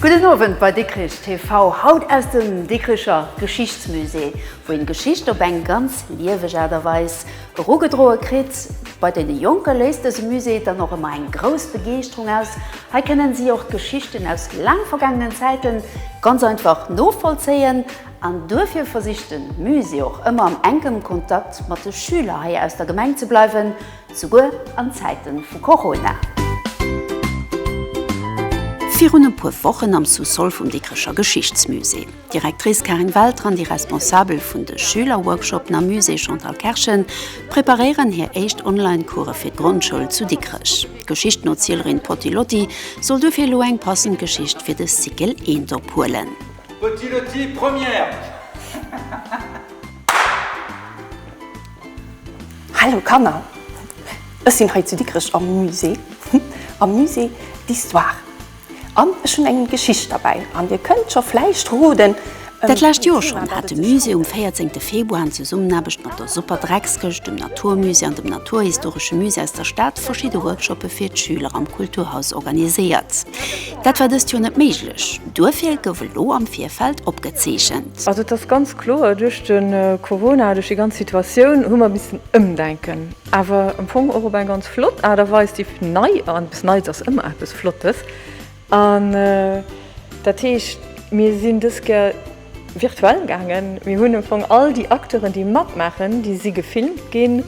Gudden Owend bei Dikrich TV, haut aus dem Dikricher Geschichtsmusée, wou een Geschicht op eng ganz lieweg Aart a Weis erugedroe kritt. Bei den Jonke léist dëse Musée dann och ëmmer eng grouss Begeeschterung aus. Hei kënnen si och d'Geschichten aus laang vergaangenen Zäiten ganz einfach novollzéien. An duerfir versicht de Musée och ëmmer am enkem Kontakt mat de Schüler hei aus der Gemeng ze bleiwen, souguer an Zäite vu Corona. Virun e puer Wochen am Sous-sol vum Dikrecher Geschichtsmusée. D'Directrice Karin Welter an déi Responsabel vun de Schülerworkshoppen am Musée Chantal Kerschen preparéieren hir éischt Online-Course fir d'Grondschoul zu Dikrech. D'Geschichtenozieelerin Potti Lotti soll duerfir elo eng passend Geschicht fir de Cycle eent ophuelen. Petit le ti première. Hallo Kanner! Ech sinn hei zu Dikrech am Musée, am Musée d'Histoire an ech hunn eng Geschicht derbäi an dir kënnt scho vläicht roden, Dat lescht Joer schonn hat de Musée um 14 Februar an Zesummenaarbecht mat der Superdreckskëscht, dem Naturmusée an dem Naturhistoresche Musée aus der Stad verschidde Workshoppe fir d'Schüler am Kulturhaus organiséiert. Dat war dëst Joer net méiglech, duerfir gouf elo am Virfeld opgezeechent. Also et ass ganz kloer, duerch de Corona, duerch déi ganz Situatioun hu mer missen ëmdenken. Awer am Fong och op eng ganz flott Aart a Weis, déi nei an eppes Neits ass ëmmer eppes Flottes. An dat heescht, mir sinn dës Kéier virtuell gaangen. Mir hunn am Fong all déi Acteuren, déi matmaachen, déi si gefilmt ginn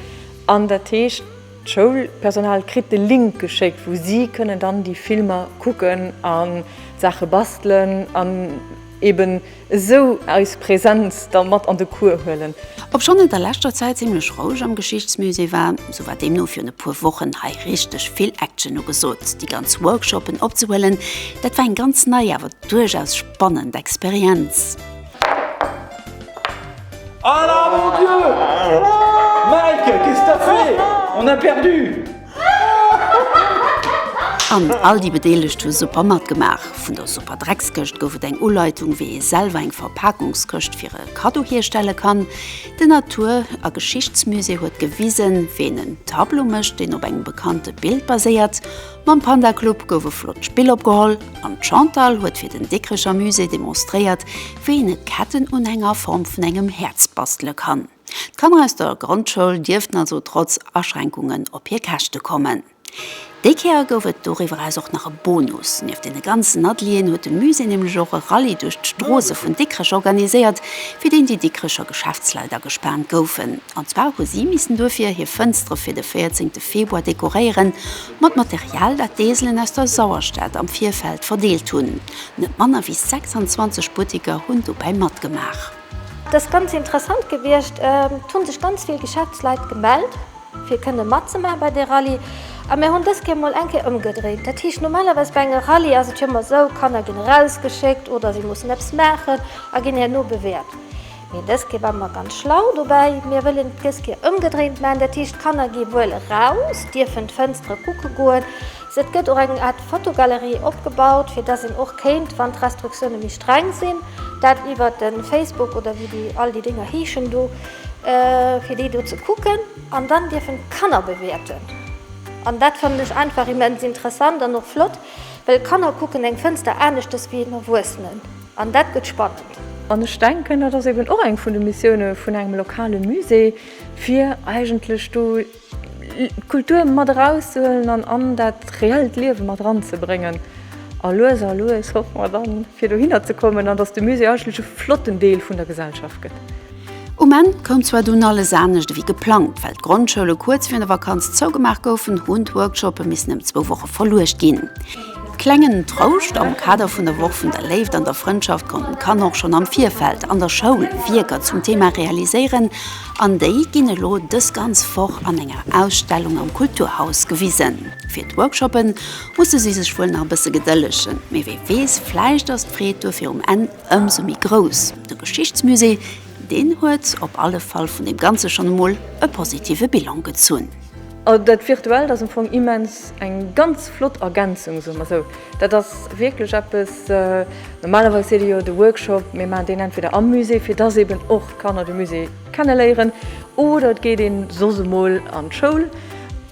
an dat heescht, D'Schoulpersonal kritt de Link geschéckt, wou si kënnen dann déi Filmer kucken a Saache bastelen an eben esou eis Präsenz da mat an de Cours huelen. Obschonn et a leschter Zäit zimmlech roueg am Geschichtsmusée war, sou war deemno virun e puer Wochen hei richteg vill Action ugesot. Déi ganz Workshopen opzehuelen, dat war eng ganz nei awer duerchaus spannend Experienz. Ala mon Dieu! Mike, qu'est-ce que t'as fait? On a perdu! An all déi Bedeelegt hu super matgemaach. Vun der super Dreckskëscht gouf et eng Uleitung, wéi ee selwer eng Verpakungskëscht fir e Kaddo hierstelle kann. De Natur a Geschichtsmusée huet gewisen, wéi een en Tableau mécht, deen op engem bekannte Bild baséiert. Mam Panda Club gouf e flott Spill opgeholl an d'Chantal huet fir den Dikricher Musée demonstréiert, wéi een e Kettenunhänger a Form vun engem Häerz bastele kann. D'Kanner aus der Grondschoul dierften also trotz Aschränkungen op hir Käschte kommen. Déi Kéier gouf et doriwwer eraus och nach e Bonus. Nieft deene ganzen Atelieren huet de Musée nämlech och e Rallye duerch d'Stroosse vun Dikrech organiséiert, fir deen déi Dikricher Geschäftsleit agespaant goufen. An zwar hu si missen duerfir hir Fënstere fir de 14 Februar dekoréieren. Mat Material, dat d'Eselen aus der Sauerstad am Virfeld verdeelt hunn. Net manner wéi 26 Butteker hunn dobäi matgemaach. Et ass ganz interessant gewiescht. Et hu sech ganz vill Geschäftsleit gemellt, fir kënne matzemaache bei der Rallye. A mir hunn dës Kéier mol eng Kéier ëmgedréint. Dat heescht, normalerweis bei enger Rallye ass et jo ëmmer esou, Kanner ginn erausgeschéckt oder si mussen eppes maachen a ginn herno bewäert. Mee dës Kéier war mer ganz schlau dobäi, Mir wëllen dës Kéier ëmgedréint maachen, dat heescht, d'Kanner gi wuel eraus, dierfen d'Fënstere kucke goen. Et gëtt och eng Aart Fotogalerie opgebaut, fir dass een och kéint, wann d'Restriktioune méi streng sinn, dat iwwer de Facebook oder wéi déi all déi Dénger heeschen do, fir déi do ze kucken. An dann dierfen d'Kanner bewäerten. An dat fannen ech einfach immens interessant an och flott, well Kanner kucken eng Fënster aneschters wéi een Erwuessenen. An dat gëtt spannend. An ech denken, dat ass eben och eng vun de Missioune vun engem lokale Musée, fir eigentlech do d'Kultur mat erauszehuelen an an dat reellt Liewe mat eranzebréngen. A lues a lues hoffe mer dann, fir dohinner ze kommen an datt de Musée eigentlech e flotten Deel vun der Gesellschaft gëtt. Um Enn koum zwar dunn alles anescht ewéi geplangt. Well d'Grondschoule kuerz virun der Vakanz zougemaach goufen, hunn d'Workshoppe missen ëm zwou Woche verluecht ginn. Klengen Trouscht, Am Kader vun der Woch vun der Léift an der Frëndschaft konnten d'Kanner och schonn am Virfeld an der Schoul Wierker zum Thema realiséieren an déi ginn elo dës ganz Woch an enger Ausstellung am Kulturhaus gewisen. Fir d'Workshoppe musse si sech wuel nach e bësse gedëllegen, mee wee weess, vläicht ass d'Freed duerfir um Enn Ëmsou méi grouss de Geschichtsmusée, deen huet op alle Fall vun deem Ganze schonn emol e positive Bilan gezunn. Also dat Virtuellt ass am Fong immens eng ganz flott Ergänzung, soe mer esou. Dat ass wierklech eppes, normalerweis seet ee jo, de Workshop, mir maachen deen entweder am Musée, fir dass eeben och d'Kanner de Musée kenneléieren, oder et geet ee soss emol an d'Schoul.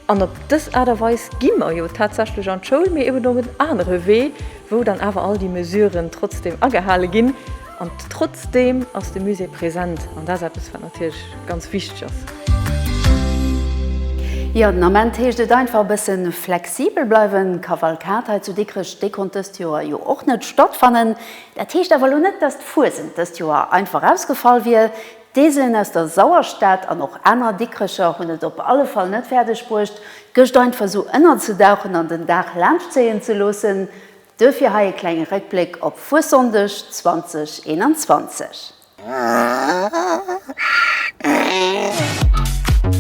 An op dës Aart a Weis gi mer jo tatsächlech an d'Schoul, mee eben op en anere Wee, wou dann awer all déi Mesuren trotzdeem agehale ginn. An trotzdeem ass de Musée present an dat ass eppes, wat natierlech ganz wichteg ass. Jo, den Ament heescht et einfach e bësse flexibel bleiwen. D'Kavalkad hei zu Dikrech, déi konnt dëst Joer jo och net stattfannen. Dat heescht awer elo net, dass d'Fuesent dëst Joer einfach ausgefall wier. D'Eeselen aus der Sauerstad an och aner Dikrecher hunn et op alle Fall net fäerdeg bruecht, d'Gëscht einfach sou ënnerzedauchen an den Dag laanschtzéien ze loossen. Duerfir hei e klenge Réckbléck op Fuessonndeg 2021.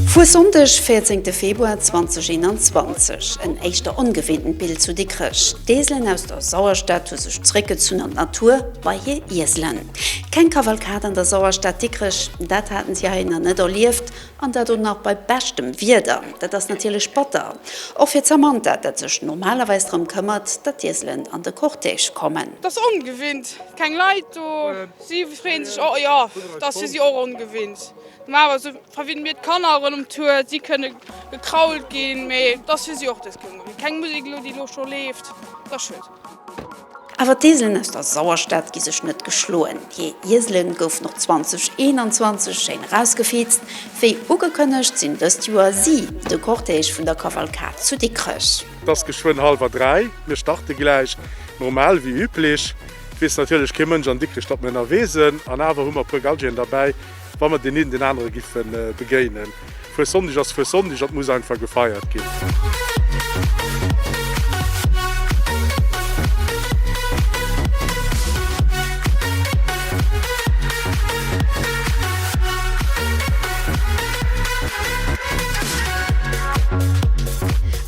Fuessonndeg, 14 Februar 2021, En éischter ongewinntent Bild zu Dikrech, D'Eeselen aus der Sauerstad hu sech zeréckgezunn an d'Natur, bei hir Ieselen. Keng Kavalkad an der Sauerstad Dikrech, dat haten si hei nach net erlieft, an dat och nach bei beschtem Wieder. Dat ass natierlech batter, och fir d'Samantha, dat sech normalerweis drëm këmmert, datt d'Ieselen an de Cortège kommen. Et ass ongewinnt, keng Leit do. Si freeën sech och, jo, et ass fir si och ongewinnt. Normalerweis verwinnen mir d'Kanner erëm um Tour, si kënne gekrault ginn, mee et ass fir si och dës Kéier ongewinnt. Keng Musek elo, déi elo scho leeft, dat ass schued. Awer d'Ieselen aus der Sauerstad gi sech net geschloen. Hir Iesele goufen och 2021 schéin erausgefeezt. Wéi ugekënnegt sinn dëst Joer si de Cortège vun der Kavalkad zu Dikrech. Et ass geschwënn hallwer dräi. Mir starte gläich normal wéi üblech. Et weess natierlech kee Mënsch an Dikrech, datt mir ënnerwee sinn. An awer hu mer e puer Galgien derbäi, wa mer deen een deen anere giffe begéinen. Fuessonndeg ass Fuessonndeg an 't muss einfach gefeiert ginn.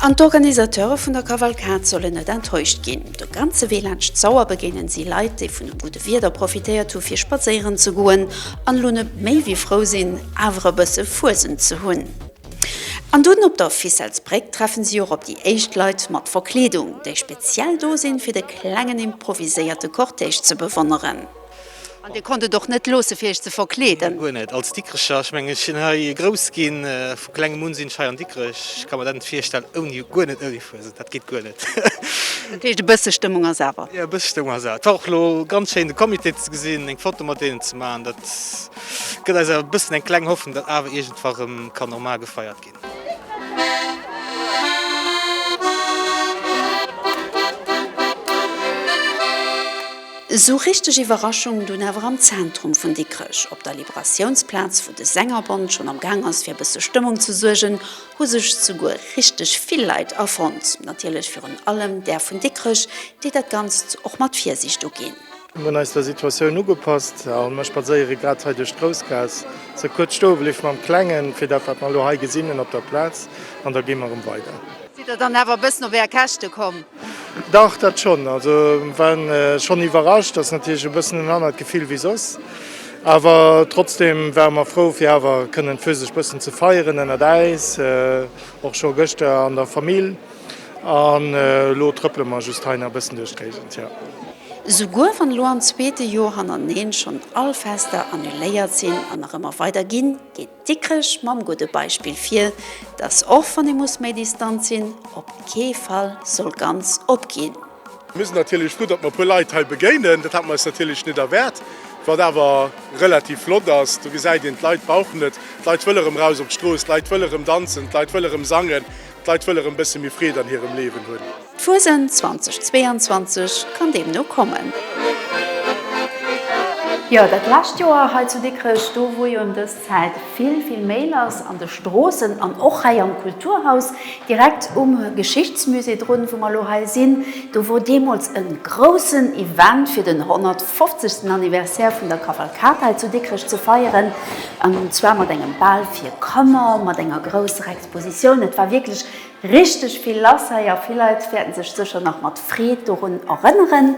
An d'Organisateure vun der Kavalkad sollen net enttäuscht ginn. De ganze Wee laanscht d'Sauer begéinen si Leit, déi vun dem Wieder profitéiert hu fir spadséieren ze goen an elo net méi wéi frou sinn awer e bësse Fuesent ze hunn. An dunn op der Ficelles-Bréck treffen si och op déi éischt Leit mat Verkleedung, déi speziell do sinn fir de klengen improviséierte Cortège ze bewonneren. An dir konnt et och net loosse fir iech ze verkleeden? Guer net. Als Dikrecher, ech mengen ech sinn hei grouss ginn, vu klengem un sinn ech hei an Dikrech, ech ka mer dat net virstellen ouni, guer net ouni Fuesent. Dat geet guer net. Dat heescht e bësse Stëmmung ass awer. Jo e bësse Stëmmung ass awer. T'ass och lo ganz schéin de Comité ze gesinn, eng Foto mat deenen ze maachen. Dat gëtt eis awer e bëssen eng kleng Hoffnung, datt awer iergendwa rëm kann normal gefeiert ginn. Esou richteg Iwwerraschung dunn awer am Zentrum vun Dikrech. Op der Liberatiounsplaz, wou de Sängerbond schonn am Gaang ass fir e bësse Stëmmung ze suergen, hu sech souguer richteg vill Leit afonnt, natierlech virun allem där vun Dikrech, déi dat Ganzt och mat Virsiicht uginn. Mir hunn eis der Situatioun ugepasst a mir spadséiere grad hei duerch d'Groussgaass. Se kuerz stoe bliwwe mam Klengen, fir dat, wat mer elo hei gesinn hunn op der Plaz, an da gi mer erëm weider. Sidd Der dann awer e bëssen op Är Käschte komm? Dach, dat schonn. Also, mir waren schonn iwwerrascht. Ass natierlech e bëssen en anert Gefill wéi soss. Awer trotzdem ware mer frou fir awer kënnen d'Physisch bëssen ze feieren ënnert äis, och scho gëschter an der Famill an elo trëppele mer just hei nach bëssen duerch d'Géigend, jo. Souguer wann elo am zweete Joer hannerneen schonn all Fester annuléiert sinn an nach ëmmer weider ginn, geet. Dikrech mam gudde Beispill vir, dass och wann ee muss méi distant sinn, op kee Fall soll ganz opginn. Mir sinn natierlech frou, datt mer e puer Leit hei begéinen. Dat hate mer eis natierlech net erwaart. Wat awer relativ flott ass, do gesäit een, d'Leit brauchen et. D'Leit wëlle rëm raus op d'Strooss, d'Leit wëlle rëm danzen, d'Leit wëlle rëm sangen, d'Leit wëlle rëm e bësse méi Freed an hirem Liewen hunn. D'Fuesent 2022 kann deemno kommen. Jo, dat lescht Joer hei zu Dikrech, do wou jo ëm dës Zäit vill, vill méi lass an de Stroossen an och hei am Kulturhaus direkt um Geschichtsmusée drun, wou mer elo hei sinn, do wor deemools e groussen Event fir den 150. Anniversaire vun der Kavalkad hei zu Dikrech ze feieren, an zwar mat engem Bal fir Kanner, mat enger grousser Expositioun. Et war wierklech. Richteg vill lass hei a vill Leit wäerten sech sécher nach mat Freed dorun erënneren.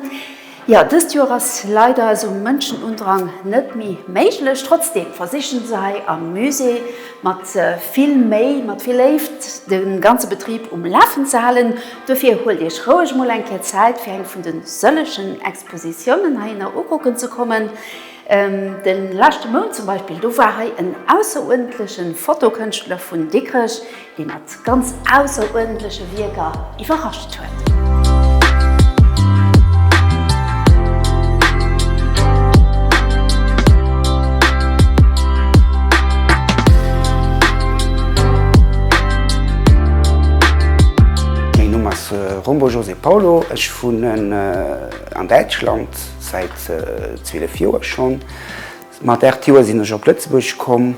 Jo, dëst Joer ass leider esou Mënschenundrang net méi méiglech. Trotzdeem versichen se hei am Musée mat vill Méi, mat vill Léift de ganze Betrib um Lafen ze halen. Dofir huelt iech roueg mol eng Kéier Zäit fir eng vun de sëllegen Expositiounen heihinner ukucken ze kommen. De leschte Mount zum Beispill, do war hei en ausseruerdentleche Fotokënschtler vun Dikrech, dee mat ganz ausseruerdentleche Wierker iwwerrascht huet. Mäin Numm ass Rombo José Paulo, ech wunnen an Däitschland säit 12 Joer schonn. Mat 8 Joer sinn ech op Lëtzebuerg komm.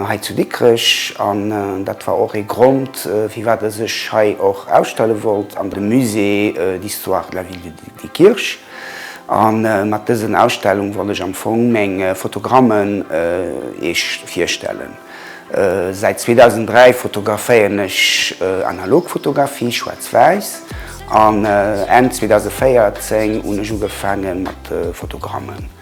hei zu Dikrech an dat war och ee Grond firwat e sech hei och ausstelle wollt an dem Musée d'histoire de la ville de Diekirch a mat dësen Ausstellung wollt ech am Fong meng Fotogrammen iech virstellen. Säit 2003 fotograféieren ech analog Fotografie, schwaarz-wäiss, an Enn 2014 hunn ech ugefaange mat Fotogrammen.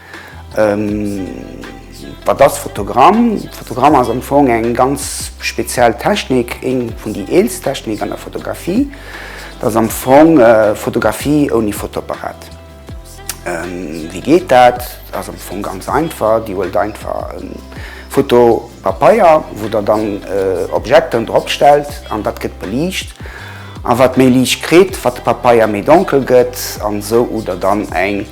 Wat ass Fotogramm? Fotogramm ass am Fong eng ganz speziell Technik, eng vun déi eelst Technik an der Fotografie. Dat ass am Fong Fotografie ouni Fotoapparat. Wéi geet dat? Dat ass am Fong ganz einfach, Dir huelt einfach e Fotopapeier, wou Der dann Objeten drop stellt an dat gëtt beliicht. A wat méi Liicht kritt, wat de Papeier méi donkel gëtt an esou hutt Der dann eng.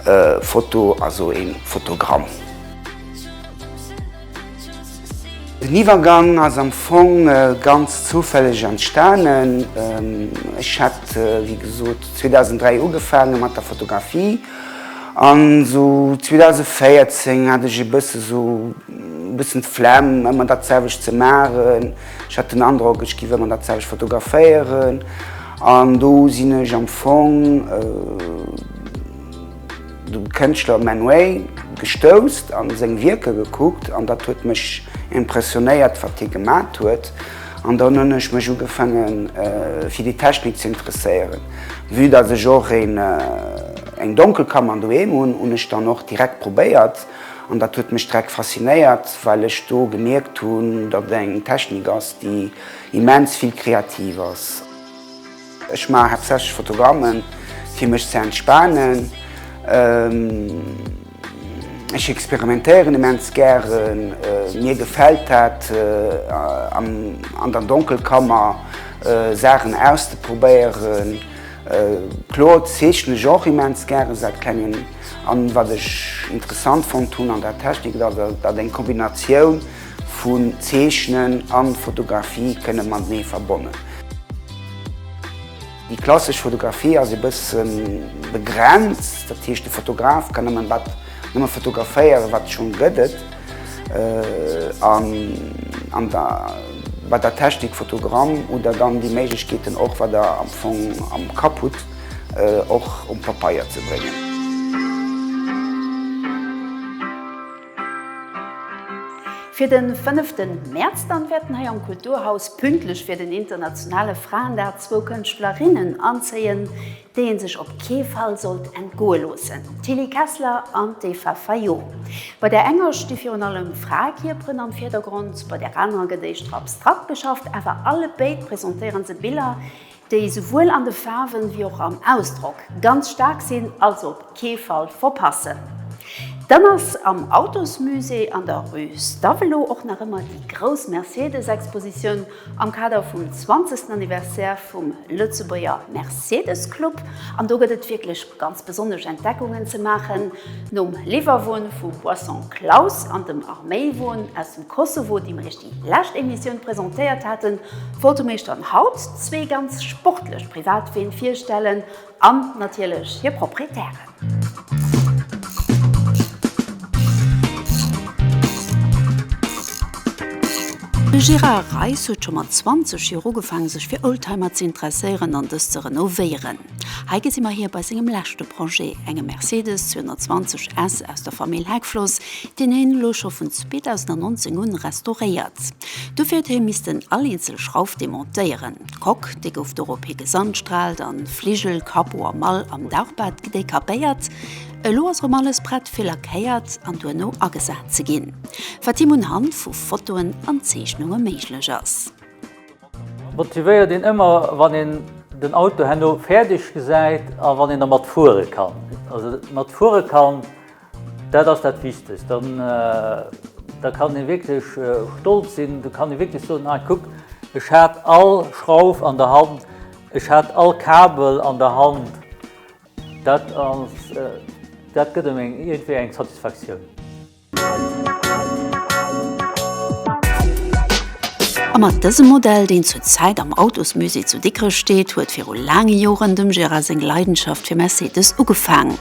E Foto ass o een Fotogramm. Den Iwwergang ass am Fong ganz zoufälleg entstanen. Ech hat wéi gesot 2003 ugefaange mat der Fotografie an esou 2014 hat ech e bësse esou e bëssen d'Flemm ëmmer dat selwecht ze maachen. Ech hat den Androck ech giff ëmmer dat selwecht fotograféieren. An do sinn ech am Fong de Kënschtler Man Ray gestouss an seng Wierker gekuckt an dat huet mech impressionéiert wat hie gemat huet an dann hunn ech mech ugefaange fir déi Technik ze interesséieren. Vue datt ech och eng Donkelkammer doheem hunn, hunn ech dann och direkt probéiert an dat huet mech direkt faszinéiert well ech do gemierkt hunn datt et eng Technik ass déi Immens vill kreativ ass. Ech maachen haaptsächlech Fotogrammen fir mech ze entspanen. Ech experimentéieren immens gären. Mir gefält dat an der Donkelkammer Saachen auszeprobéieren. Kloer zeechnen ech och immens gären säit klengem an wat ech interessant fonnt hunn an der Technik et ass dat eng Kombinatioun, Vun Zeechnen an Fotografie kënnen matenee verbonnen. Déi klassesch Fotografie ass e bëssen begrenzt, dat heescht de Fotograf kann nëmmen wat nëmmen fotograféieren wat schonn gëtt et an an der bei der Technik Fotogramm oder dann déi Méiglechkeeten och wat der am Fong am Kapp hutt och um Papeier ze bréngen. Fir den 5 ten März dann wäerten hei am Kulturhaus pünktlech fir den internationale Fraendag zwou Kënschtlerinnen anzéien, déi een sech op kee Fall sollt entgoe loossen, d'Tilly Kessler an d'Eva Fayot. Bei der enger sti virun allem Fraekierperen am Virdergrond, bei der anerer gëtt éischter abstrakt geschafft, awer allebéid presentéiere se Biller, déi souwuel an de Faarwen ewéi och am Ausdrock ganz staark sinn, also op kee Fall verpassen. Dann ass am Autosmusée an der Rue Stavelot och nach ëmmer déi grouss Mercedes-Expositioun am Kader vum 20. Anniversaire vum Lëtzebuerger Mercedes-Club an do gëtt et wierklech ganz besonnesch Entdeckungen ze maachen. Nom Liwwerwon vu Boisson Klaus an dem Arméiwon aus dem Kosovo, deem lescht Emissioun presentéiert haten, wollte mir iech dann haut zwee ganz sportlech Privatween virstellen an natierlech hir Proprietären. De Gérard Reiss huet scho mat 20 Joer ugefaangen sech fir Oldtimer ze interesséieren an dës ze renovéieren. Hei gesi mer hie bei sengem leschte Projet, engem Mercedes 220 S aus der Famill Heckfloss, deen hien elo scho vun 2019 un restauréiert. Dofir huet hie missten all eenzel Schrauf demontéieren. D'Coque, déi gouf dorop hi gesandstrahlt an d'Fligel, Capot a Mall am Dauchbad gedekapéiert. Elo ass erëm alles prett fir lackéiert an duerno agesat ze ginn, wat him unhand vu Fotoen an Zeechnunge méiglech ass. Motivéiert een ëmmer wann een den Auto herno fäerdeg gesäit a wann een dermat fuere kann. Also mat fuere kann, dat ass dat Wichtegst. Dann da kann ee wierklech stolz sinn, da kann ee wierklech soen, ah kuck, ech hat all Schrauf an der Hand, ech hat all Kabel an der Hand. Dat ass, dat gëtt ëm eng iergendwéi eng Satisfaktioun. A mat dësem Modell, deen zur Zäit am Autosmusée zu Dikrech steet, huet viru laange Joren dem Gérard seng Leidenschaft fir Mercedes ugefaangen.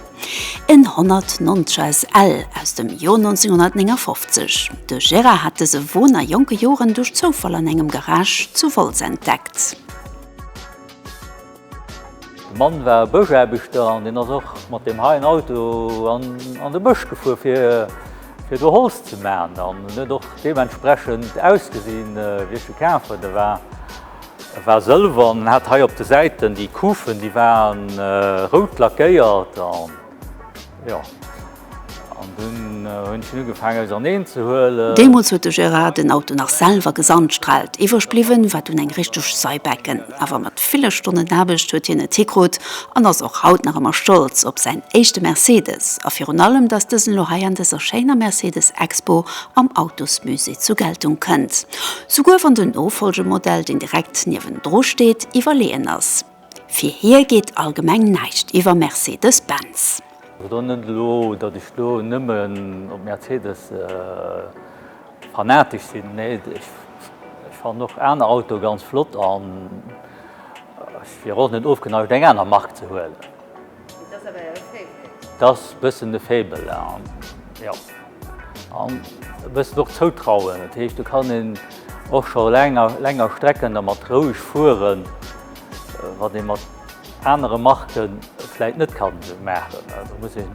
En 190 SL aus dem Joer 1959. De Gérard hat dëse Won a jonke Joren duerch Zoufall an engem Garage zu Wolz entdeckt. De Mann war Bëschaarbechter an deen ass och mat deem heien Auto an de Bësch gefuer fir do Holz ze man an en huet och deementsprechend ausgesinn wéi ech e kaf huet. E war sëlwer an en hat hei op de Säiten déi Kufen déi waren rout lackéiert. Deemools huet de Gérard den Auto nach selwer gesandstrahlt. Iwwereg bliwwen war dunn eng richteg Seibecken. Awer mat ville Stonnen Aarbecht huet hien et hikrut an ass och haut nach ëmmer stolz op säin éischte Mercedes a virun allem, dass dësen elo hei an dëser schéiner Mercedes-Expo am Autosmusée zur Geltung kënnt. Souguer wann den Nofolgemodell, deen direkt niewendru steet, iwwerleeën ass. Fir hie geet allgemeng näischt iwwer Mercedes Benz. Et ass och net elo, datt ech do nëmmen op Mercedes fanatesch sinn. Nee, ech fannen och aner Autoe ganz flott an ech wier och net ofgeneigt, eng aner Mark ze huelen. Et ass e bëssen e Faible an jo, an e bëssen och Zoutrauen. Dat heescht, do kann een och scho länger Strecken dermat roueg fueren, wat ee mat anere Marke vläit net kann maachen. Do muss een.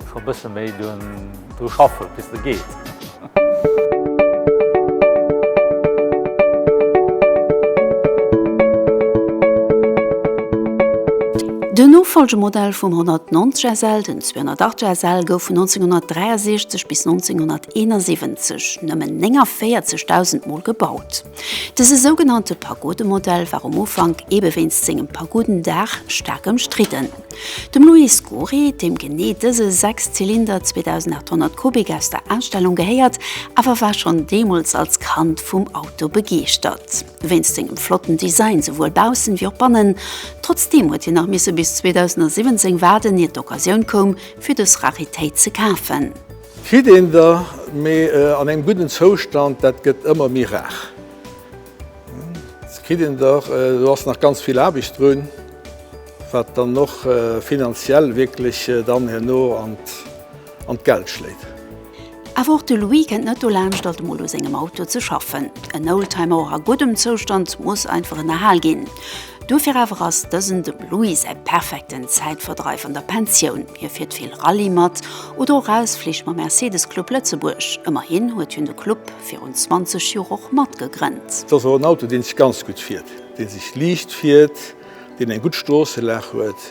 Scho bësse méi dru schaffe bis de geet. Den Nofollgemodell vum 190 SL, den 208 SL, gouf vun 1963 bis 1971 nëmmen 49.000 Mol gebaut. Dëse sougenannte Pagodemodell war um Ufank, eebe wéinst sengem Pagodendaach, staark ëmstridden. Dem Louis Scuri, deem genee dëse Sechszylinder 2.800 Kubik aus der Ausstellung gehéiert, awer war schonn deemools als Kand vum Auto begeeschtert. Wéinst sengem flotten Design, souwuel baussen ewéi och bannen. Trotzdeem huet hien nach misse bis 2017 waarden, ier d'Occasioun koum, fir dës Raritéit ze kafen. Kritt een der mee an engem gudden Zoustand, dat gëtt ëmmer méi rar. Se kritt een der, do ass nach ganz vill Aarbecht drun. Wat dann och finanziell wierklech dann herno an d'Geld schléit. Awer och de Louis kennt net dolaanscht, alt emol u sengem Auto ze schaffen. En Oldtimer, och a guddem Zoustand, muss einfach ënnerhal ginn. Dofir awer ass dësen dem Louis säi perfekten Zäitverdreif an der Pensioun. Hie fiert vill Rallye mat oder och Ausflich mam Mercedes Club Lëtzebuerg. Ëmmerhin huet hien de Club virun 20 Joer och matgegrënnt. Et ass och en Auto, dee sech ganz gutt fiert, dee sech liicht fiert. deen eng gutt Stroosselag huet,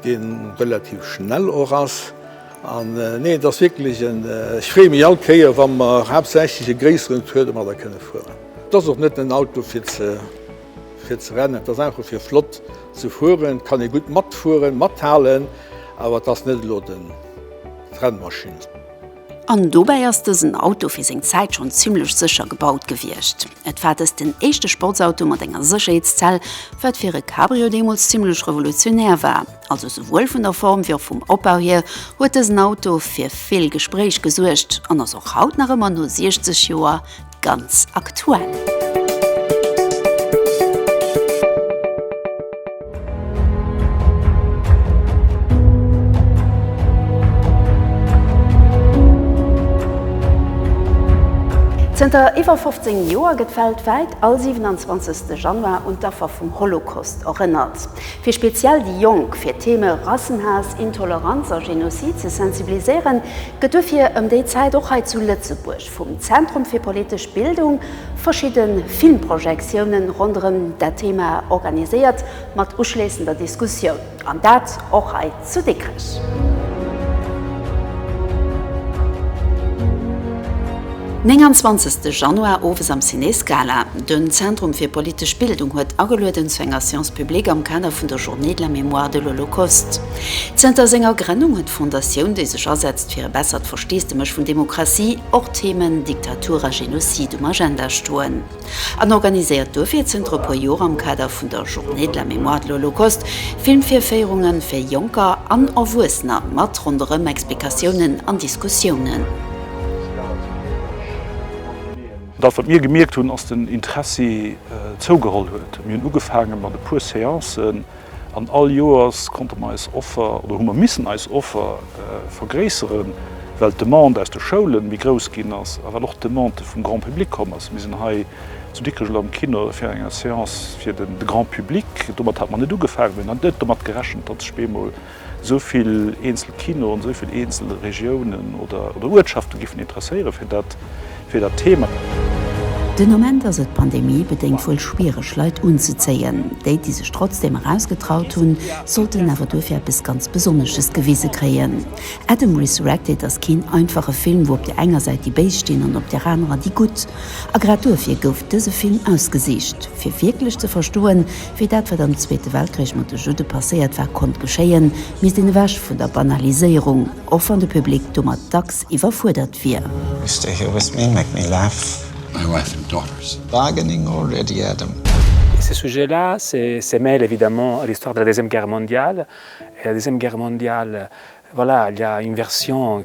dee relativ schnell och ass an nee et ass wierklech en, ech freeë mech all Kéier wa mer haaptsächlech e gréisseren Tour de mat der kënne fueren. Et ass och net en Auto fir ze fir ze rennen, et ass einfach fir flott ze fueren, et kann ee gutt matfueren, mathalen, awer et ass net elo de d'Rennmaschinn. An dobäi ass dësen Auto fir seng Zäit schonn zimmlech sécher gebaut gewiescht. Et war dëst den éischte Sportsauto mat enger Sécherheetszell, wat fir e Cabrio deemools zimmlech revolutionär war. Also souwuel vun der Form wéi och vum Opbau hier huet dësen Auto fir vill Gespréich gesuergt an ass och haut nach ëmmer no 60 Joer ganz aktuell. Zënter iwwer 15 Joer gëtt weltwäit all 27. Januar un d'Affer vum Holocaust erënnert. Fir speziell déi Jonk fir d'Theme Rassenhaass, Intoleranz a Genozid ze sensibiliséieren, gëtt duerfir ëm déi Zäit och hei zu Lëtzebuerg, vum Zentrum fir politesch Bildung verschidde Filmprojektiounen ronderëm dat Thema organiséiert, mat uschléissender Diskussioun, an dat och hei zu Dikrech. Nénganzwanzegste Januar owes am Ciné Scala, Den Zentrum fir politesch Bildung huet agelueden zu enger Séance publique am Kader vun der Journée de la mémoire de l'Holocauste. Zënter senger Grënnung huet d'Fondatioun, déi sech asetzt fir e bessert. Steesdemech vun Demokratie och Themen Diktatur a Genocide um Agenda stoen an organiséiert duerfir zënter e puer Joer am Kader vun der Journée de la mémoire de l'Holocauste Filmvirféierunge fir Jonker an Erwuessener mat ronderëm Explikatiounen an Diskussiounen. Dat wat mir gemierkt hunn, ass den Interessi zougeholl huet. Mir hunn ugefaange mat e puer Séancen. An all Joers konnte mer eis Offer, oder hu mer missen eis Offer vergréisseren, well d'Demande aus de Schoulen méi grouss ginn ass a well och d'Demande vum Grand public komm ass. Mir sinn hei zu Dikrech oder am Kino fir enger Seance fir de Grand public. Domat hat mer net ugefaangen. Mir hunn net domat gerechent, datt sech bemol Esou vill eenzel Kinoen, esou vill eenzel Regiounen oder Uertschafte géifen interesséiere fir dat Thema. Den Ament ass et pandemie-bedéngt wuel schwiereg, Leit unzezéien. Déi, déi sech trotzdeem erausgetraut hunn, sollten awer duerfir eppes ganz Besonnesches gewise kréien. Adam Resurrected ass keen einfache Film, wou op der enger Säit déi Béis stinn an op der anerer déi Gutt. A grad duerfir gouf dëse Film ausgesicht, fir wierklech ze verstoen, Fir dat, wat am Zweete Weltkrich mat de Judde passéiert war, konnt geschéien, misst een ewech vun der Banaliséierung, och wann de Public domat dacks iwwerfuerdert wier. You stay here with me, make me laugh, my wife and daughters. Bargaining already, Adam? Ce sujet-là se mêle évidemment à l'histoire de la Deuxième Guerre mondiale et la Deuxième Guerre mondiale, voilà, il y a une version,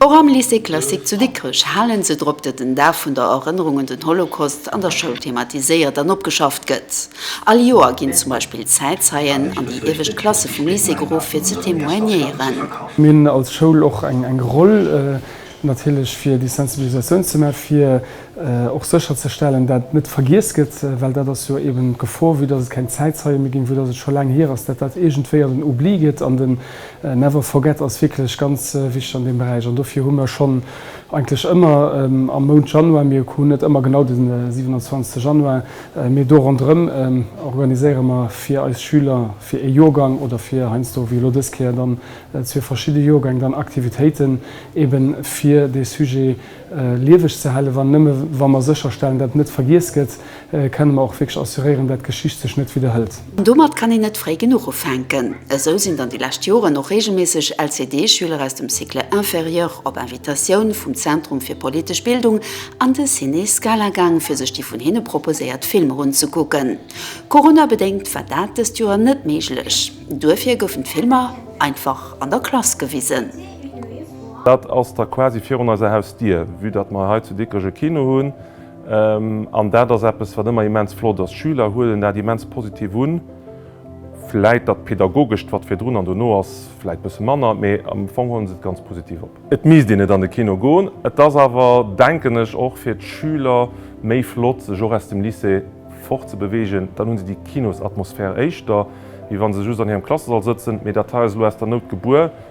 Och am Lycée Classique zu Dikrech hale se drop, datt den Dag vun der Erënnerung un den Holocaust an der Schoul thematiséiert an opgeschafft gëtt. All Joer ginn zum Beispill d'Zäitzeien an déi iewescht Klasse vum Lycée geruff, fir ze témoignéieren. Mir hunn als Schoul och eng Roll natierlech, fir déi Sensibilisatioun ze maachen, fir och sécherzestellen, datt et net vergiess gëtt, well dat ass jo eeben d'Gefor, vue datt et keng Zäitzeie méi ginn, vue datt et scho laang hier ass, datt dat iergendwéi an den Oubli geet, an den. Never Forget ass wierklech ganz wichteg an deem Beräich an dofir hu mer schonn eigentlech ëmmer am Mount Januar, mir hunn net ëmmer genau de 27 Januar, mee do ronderëm organiséiere mer fir eis Schüler, fir ee Jorgang oder fir heiansdo wéi elo dës Kéier dann zwee verschidde Jorgäng, dann Aktivitéiten eeben fir dee Sujet lieweg ze halen, wann nëmme wa mer sécherstellen, datt net vergiess gëtt. Kenne mer och wierklech assuréieren, dat d'Geschicht sech net widderhëlt. Domat kann een net fréi genuch ufänken. Esou sinn dann déi lescht Joren och reegelméisseg LCD-Schüler aus dem Cycle inférieur op Invitatioun vum Zentrum fir politesch Bildung an de Ciné Scala gaang, fir sech déi vun hinne proposéiert Filmer unzekucken. Coronabedéngt war dat dëst Joer net méiglech. Duerfir goufen d'Filmer einfach an der Klass gewisen. Dat ass da quasi virun eiser Hausdier, vue datt mer hei zu Dikrech e Kino hunn. An dat ass eppes, wat ëmmer immens flott ass. D'Schüler huelen dat immens positiv un. Vläit dat Pedagogescht, wat virdrun an dono ass, vläit bësse manner, mee am Fong huele se et ganz positiv op. Et misst een net an de Kino goen. Et ass awer, denken ech, och fir d'Schüler méi flott, sech och aus dem Lycée fortzebewegen. Dann hu se déi Kinosatmosphär éischter, wéi wa se just an hirem Klassesall sëtzen. Mee dat hei ass elo aus der Nout gebuer.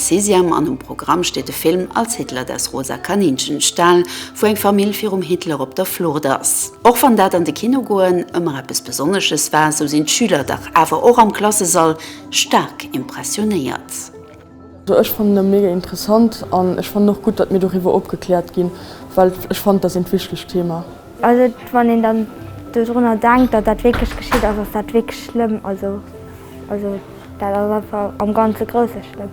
Sixième an um Programm steet de Film Als Hitler das rosa Kaninchen stahl, wou eng Famill virum Hitler op der Flucht ass. Och wann dat an de Kino goen ëmmer eppes Besonnesches war, sou sinn d'Schüler dach awer och am Klassesall staark impressionéiert. Also ech fannen e mega interessant an ech fannen och gutt, datt mir doriwwer opgekläert ginn, well ech fannen, et ass een wichtegt Thema. Also wann een dann dodrunner denkt, datt dat wierklech geschitt ass, ass dat wierklech schlëmm. Also also dat ass einfach am ganze Grousse schlëmm.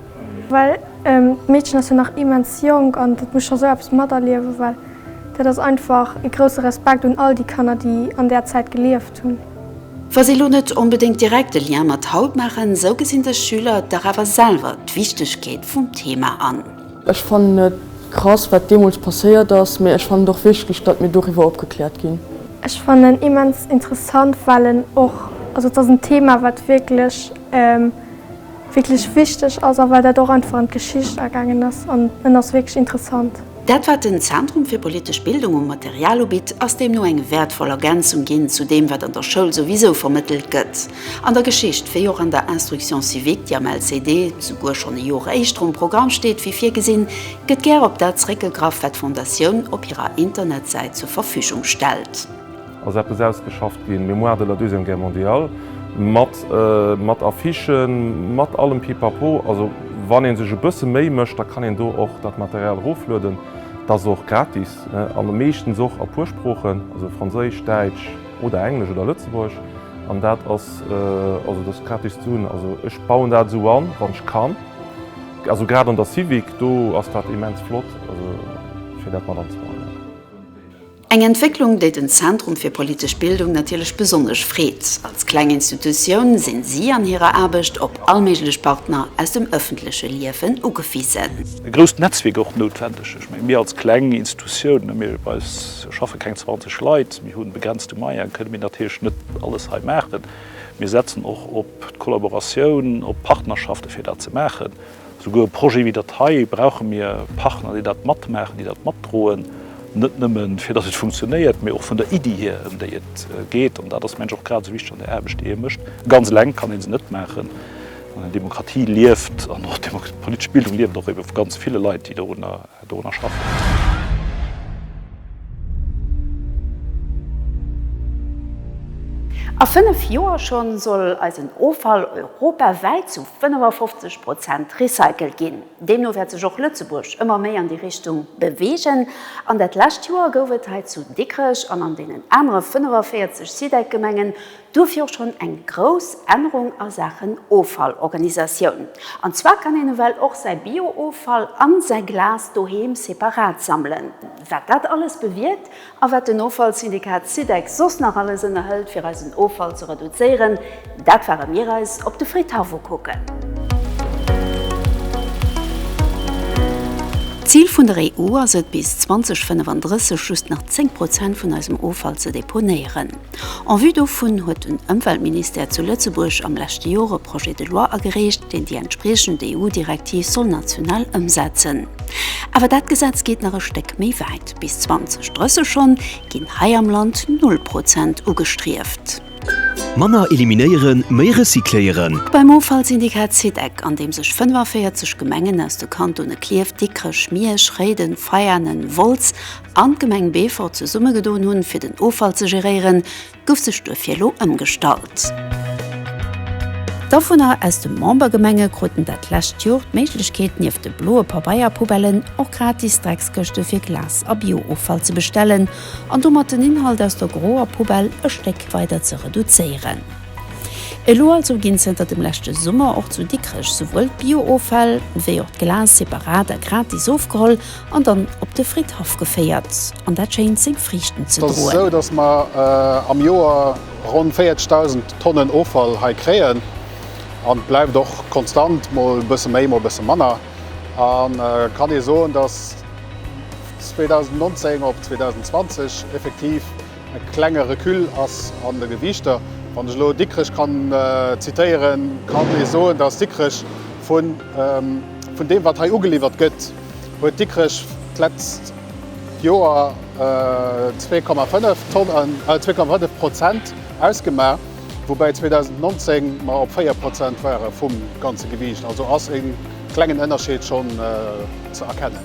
Well d'Meedchen ass jo nach immens jonk an dat muss scho sou eppes materliewen. Well dat ass einfach e grousse Respekt un all déi Kanner, déi an där Zäit gelieft hunn. Wa si elo net onbedéngt direkt e Lien mat haut maachen, sou gesinn sech Schüler dach awer selwer d'Wichtegkeet vum Thema an. Ech fannen et krass wat deemools passéiert ass, mee ech fannen et och wichteg datt mir doriwwer opgekläert ginn. Ech fannen en immens interessant well en och, also et ass en Thema wat wierklech wierklech wichteg ass a well dat och einfach an d'Geschicht agaangen ass an en ass wierklech interessant. Dat wat den Zentrum fir politesch Bildung u Material ubitt, ass deemno eng wäertvoll Ergänzung ginn zu deem wat an der Schoul souwisou vermëttelt gëtt. An der Geschicht, wéi och an der Instruction civique, déi am LCD souguer schonn e Jor éischter um Programm steet wéi virgesinn, gëtt gär op dat zeréckgegraff, wat d'Fondatioun op hirer Internetsäit zur Verfügung stellt. Ass eppes ausgeschafft ginn, Mémoire de la Deuxième Guerre mondiale, mat, mat Affichen, mat allem Pipapo. Also wann ee sech e bësse Méi mécht, da kann een do och dat Material eroflueden. Dat ass och gratis an meeschtens och a puer Sproochen, also Franséisch, Däitsch. Oder englesch oder lëtzebuergesch. An dat ass also dass gratis ze hunn. Also ech bauen dat esou an wann ech kann. Also grad an der Civic do ass dat immens flott also fir dat mat anzebauen. Eng Entwécklung déi den Zentrum fir politesch Bildung natierlech besonnesch freet. Als kleng Institutioun sinn si an hirer Aarbecht op allméiglech Partner aus dem ëffentleche Liewen ugewisen. E grousst Netzwierk och noutwendeg. Ech mengen mir als kleng Institutioun, mir bei eis. Do schaffe keng 20 Leit, mir hu begrenzte Moyen, kënne mir natierlech net alles hei maachen. Mir setzen och op d'Kollaboratioun, op d'Partnerschafte fir dat ze maachen. Souguer e Projet wéi dat hei brauche mir Partner, déi dat matmaachen, déi dat matdroen, net nëmme fir datt et funktionéiert, mee och vun der Iddi hier, ëm déi et geet. An dat ass, mengen ech, och grad esou wichteg an der Aarbecht, déi ee mécht. Ganz eleng kann ee se net maachen. An eng Demokratie lieft an och d'politesch Bildung lieft och ebe vu ganz ville Leit, déi dorunner. Dorunner schaffen. A fënnef Joer schonn soll eisen Offall europawäit zu 55 Prozent recycelt ginn. Deemno wäert sech och Lëtzebuerg ëmmer méi an déi Richtung beweegen. An dat lescht Joer gouf et hei zu Dikrech an an deenen anere 45 SIDEC-Gemengen Duerfir och schonn eng grouss Ännerung a Saachen Offallorganisatioun. An zwar kann een ewell och säi Bio-Offall a säi Glas doheem separat sammelen. Wat dat alles bewierkt a wat den Offallsyndikat SYDEC soss nach alles ënnerhëlt fir eisen Offall ze reduzéieren, dat fahre mir eis op de Friedhaff ukucken. D'Zil vun der EU ass et bis 2035 just nach 10 Prozent vun eisem Offall ze deponéieren. En vue dovun huet den Ëmweltministère zu Lëtzebuerg am leschte Jor e Projet de loi agereecht, deen déi entspriechend EU-Direktiv soll national ëmsetzen. Awer dat Gesetz geet nach e Stéck méi wäit, bis 2030 schonn ginn hei am Land Null Prozent ugestrieft. Manner eliminéieren, méi recycléieren! Beim Offallsyndikat SIDEC, an deem sech 45 Gemengen aus de Kantone Klierf, Dikrech, Miersch, Réiden, Veianen, Wolz, an d'Gemeng Beefort zesummegedoen hunn, fir den Offall ze geréieren, gouf sech duerfir elo ëmgestallt. D'Awunner aus de Membergemenge kruten dat lescht Jor d'Méiglechkeet, nieft de bloe Pabeierpoubellen och gratis Dreckskëschte fir Glas a Bio-Offall ze bestellen an domat den Inhalt aus der groer Poubelle e Stéck weider ze reduzéieren. Elo also ginn zënter dem leschte Summer och zu Dikrech souwuel d'Bio-Offäll wéi och d'Glas separat a gratis ofgeholl An dann op de Fridhaff geféiert, an dat schéint seng Friichten ze droen. Et ass esou, datt mer am Joer ronn 40.000 Tonnen Offall hei kréien. An et bleift och konstant, mol e bësse méi, mol e bësse manner. Et kann ee soen, datt 2019 op 2020 effektiv e klenge Recul ass an de Gewiichter. Wann ech elo Dikrech kann zitéieren, kann ee soen, datt Dikrech vun deem, wat hei ugeliwwert gëtt, huet Dikrech d'letzt Joer 2,5 Prozent ausgemaach, woubäi 2019 mer op 4 Prozent ware vum ganze Gewiicht. Also ass e klengen Ënnerscheed schonn ze erkennen.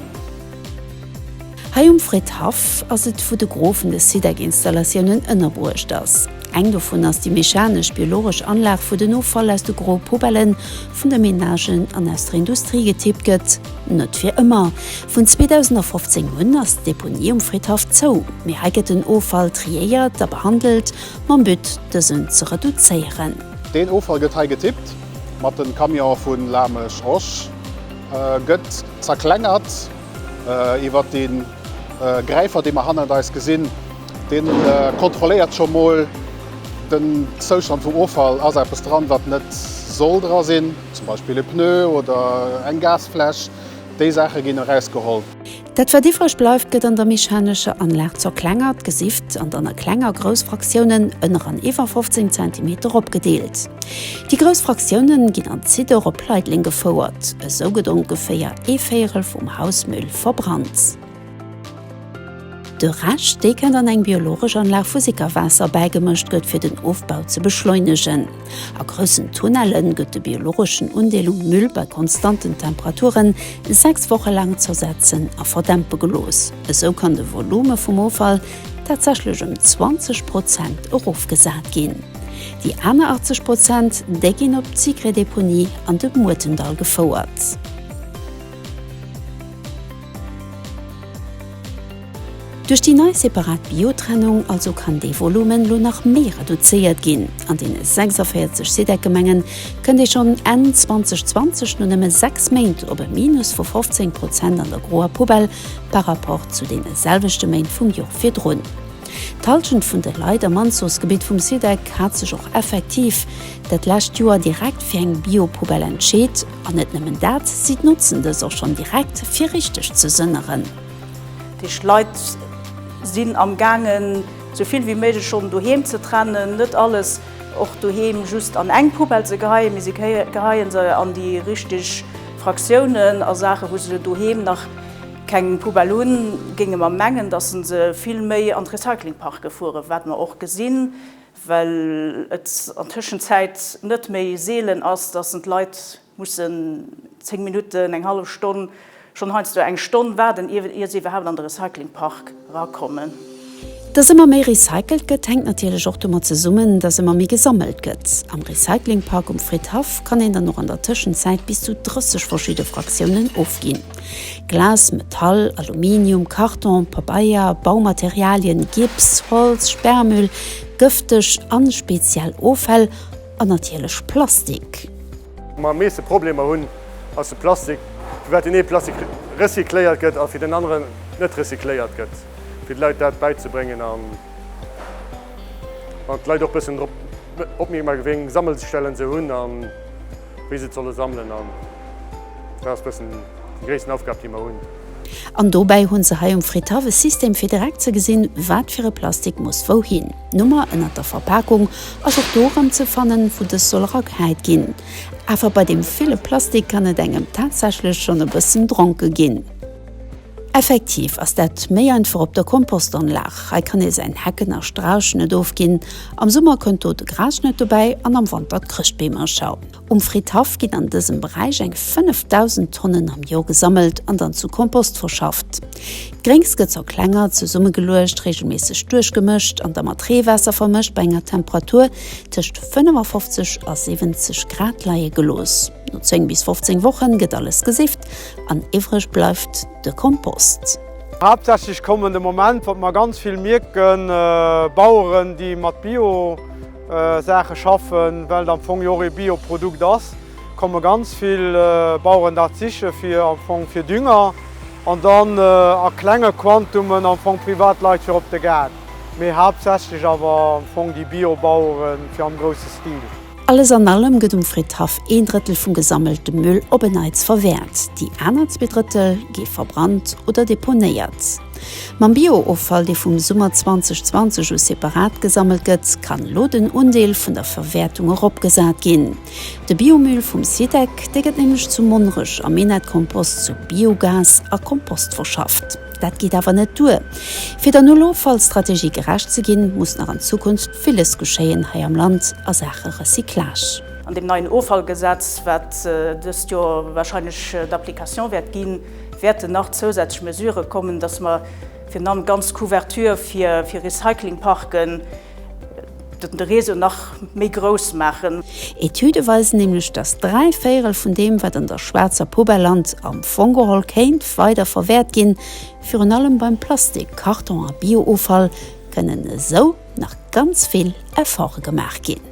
Hei um Fridhaff ass et wou de Gros vun de SIDEC-Installatiounen ënnerbruecht ass. Eng dovun ass déi mechanesch-biologesch Anlag, wou den Offall aus de groe Poubellen, vun de Menagen an aus der Industrie getippt gëtt. Net fir ëmmer. Vun 2015 un ass d'Deponie um Fridhaff zou, mee hei gëtt den Offall triéiert a behandelt, mam But dësen ze reduzéieren. Deen Offall gëtt hei getippt, mat de Camionen vu Lamesch, Och gëtt zerklengert iwwer dee Gräifer, dee mer hannert eis gesinn. Deen kontrolléiert scho mol den Zoustand vum Offall, ass eppes dran wat net soll dra sinn, zum Beispill e Pneu oder eng Gasfläsch, déi Saache ginn eraus geholl. Dat wat iwwreg bleift gëtt an der mechanescher Anlag zerklengert, gesift an dann a kleng a grouss Fraktiounen, ënner an iwwer 15 Zentimeter, opgedeelt. Déi grouss Fraktiounen ginn an Zidder op Leitleng gefouert. Esou gëtt ongeféier ee Véierel vum Hausmüll verbrannt. De Rescht, dee kënnt an eng biologesch Anlag, wou Sickerwaasser bäigemëscht gëtt, fir den Ofbau ze beschleunegen. A groussen Tunnelle gëtt de biologeschen Undeel um Müll bei konstanten Temperaturen 6 Woche laang zersetzen a verdämpe gelooss. Esou kann de Volume vum Offall tatsächlech ëm 20 Prozent erofgesat ginn. Déi aner 80 Prozent, déi ginn op d'Sicré-Deponie an de Muertendall gefouert. Duerch déi nei separat Biotrennung also kann dee Volumen elo nach méi reduzéiert ginn. An deene 46 SIDEC-Gemengen kënnt ee schonn Enn 2020 no nëmme sechs Méint op e Minus vu 15 Prozent an der groer Poubelle par rapport zu deene selwechte Méint vum Jor virdrun. D'Hallschent vun de Leit am Anzuchsgebitt vum SIDEC hat sech och effektiv dat lescht Joer direkt fir eng Biopoubelle entscheet. An net nëmmen dat, si notzen dës och schonn direkt, fir richteg ze sënneren. Déi Leit sinn am gaangen, sou vill wéi méiglech schonn doheem ze trennen, net alles och doheem just an eng Poubelle ze geheien, mee si geheie se an déi richteg Fraktiounen a Saachen, wou se se doheem nach. Keng Poubelle hunn, géinge mer mengen, datt se se vill méi an d'Recyclingparke fueren, wat mer och gesinn, well et an d'Tëschenzäit net méi seelen ass, datt en d'Leit mussen 10 Minutten, eng hallef Stonn, schonn heiansdo eng Stonn waarden, ier se iwwerhaapt an de Recyclingpark rakommen. Dass ëmmer méi recycelt gëtt, hänkt natierlech och domat zesummen, dass ëmmer méi gesammelt gëtt. Am Recyclingpark um Fridhaff kann een dann och an der Tëschenzäit bis zu 30 verschidde Fraktiounen ofginn, Glas, Metall, Aluminium, Karton, Pabeier, Baumaterialien, Gips, Holz, Sperrmüll, gëfteg an speziell Offäll an natierlech Plastik. Am meeschte Problemer hunn, ass de Plastik, firwat deen ee Plastik recycléiert gëtt a fir deen aneren net recycléiert gëtt, fir de Leit dat bäizebréngen a d'Leit och e bëssen drop opmierksam maachen, wéi eng Sammelstellen se hunn a wéi se et solle sammelen. An dat ass e bëssen déi gréissten Aufgab, déi mer hunn. An dobäi hu se hei um Fritthaff e System, fir direkt ze gesinn, wat fir e Plastik muss wouhin. D'Nummer ënnert der Verpakung ass och do erëm ze fannen, wou dës soll erageheit ginn. Awer bei deem ville Plastik kann et engem tatsächlech schonn e bëssen dronke ginn. Effektiv ass dat méi einfach op der Kompostanlag. Hei kann ee säin Hecken a Strauch net ofginn. Am Summer kënnt do de Grasschnëtt dobäi an am Wanter d'Chrëschtbeemercher. Um Fridhaff ginn an dësem Beräich eng 5.000 Tonnen am Joer gesammelt an dann zu Kompost verschafft. D'Gréngs gëtt zur klenger zesummegeluecht, reegelméisseg duerchgemëscht an da mat Reewaasser vermëscht bei enger Temperatur tëscht 55 a 70 Grad leie gelooss. No 10 bis 15 Wochen gëtt alles gesifft an iwwreg bleift de Kompost. Haaptsächlech kommen de Moment, wat mer ganz vill mierken, Baueren, déi mat Bio. Saache schaffen, well et am Fong jo och ee Bioprodukt ass, komme ganz vill Baueren dat siche fir am Fong fir Dünger an dann a klenge Quantumen am Fong privat Leit fir op de Gaart, mee haaptsächlech awer am Fong déi Biobauere fir am grousse Stil. Alles an allem gëtt um Friddhaff een Drëttel vum gesammelte Müll op en Neits verwäert, déi aner zwee Drëttel gi verbrannt oder deponéiert. Mam Bio-Offall, dee vum Summer 2020 u separat gesammelt gëtt, kann elo den Undeel vun der Verwäertung eropgesat ginn. De Biomüll vum Sidec, dee gëtt nämlech zu Monnerech am Minett-Kompost zu Biogas a Kompost verschafft. Dat geet awer net duer. Fir der Null-Offall-Strategie gerecht ze ginn, muss nach an Zukunft villes geschéien hei am Land a Saache Recyclage. An deem neien Offallgesetz, wat dëst Joer warscheinlech d'Application wäert ginn, Wäerten nach zousätzlech Mesurë kommen, dass mer virun allem d'ganz Couverture fir Recyclingparken, de Réseau nach méi grouss maachen. Etüde weisen nämlech, dass dräi Véirel vun deem, wat an der schwaarzer Poubelle lant, am Fong geholl kéint weider verwäert ginn. Virun allem beim Plastik, Karton a Bio-Offall kënnen esou nach ganz vill Efforte gemaach ginn.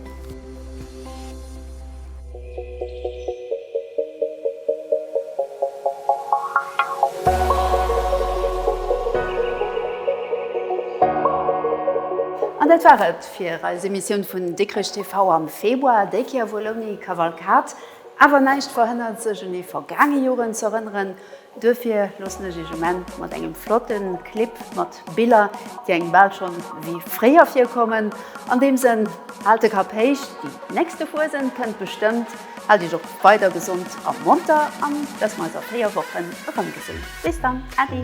An dat war et fir eis Emissioun vun Dikrech TV am Februar, déi Kéier wuel ouni Kavalkad. Awer näischt verhënnert sech un ee vergaange Joren z'erënneren. Duerfir loossen ech iech um Enn mat engem flotten Clip mat Biller, déi engem bal schonn wéi fréier virkommen. An deem Sënn, haalt de Kapp héich, déi nächste Fuesent kënnt bestëmmt. Haalt iech och weider gesond a monter an dass mer eis a 4 Wochen erëm gesinn. Bis dann, Äddi!